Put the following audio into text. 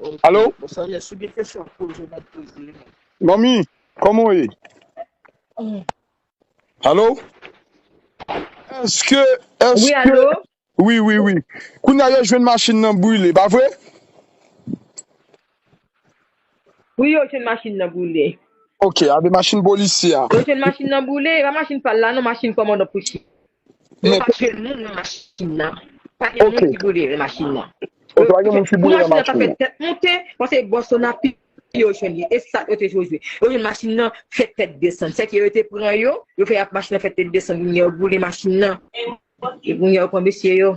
Ok, Alo? bon sa vle si gen kesyon wap poze map poze yo. Manmi, kòman w ye? Alo? Eske, Oui, eske, allô? wi, wi, wi. Kounya yo jwenn machin nan brile, pa vre? Wi yo jwenn machin nan boule. Ok a de machin polisye a. Yo jwenn machin nan boule e pa machin pal la non machin kòmandan Pouchi. Yo pa jwenn moun nan machin nan. Pa gen moun ki boule nan machin nan. Ok pa gen moun ki boule nan machin nan. Pou machin nan ta fè tèt monte pase bò Sonapi yo jwenn li e sa yo te jwe jwe. Yo jwenn machin nan fè tèt desann. Sèke yo te pran yo. Yo fè machin nan fè tèt desann kounye a yo boule machin nan. E kounye a yo pran mesye yo.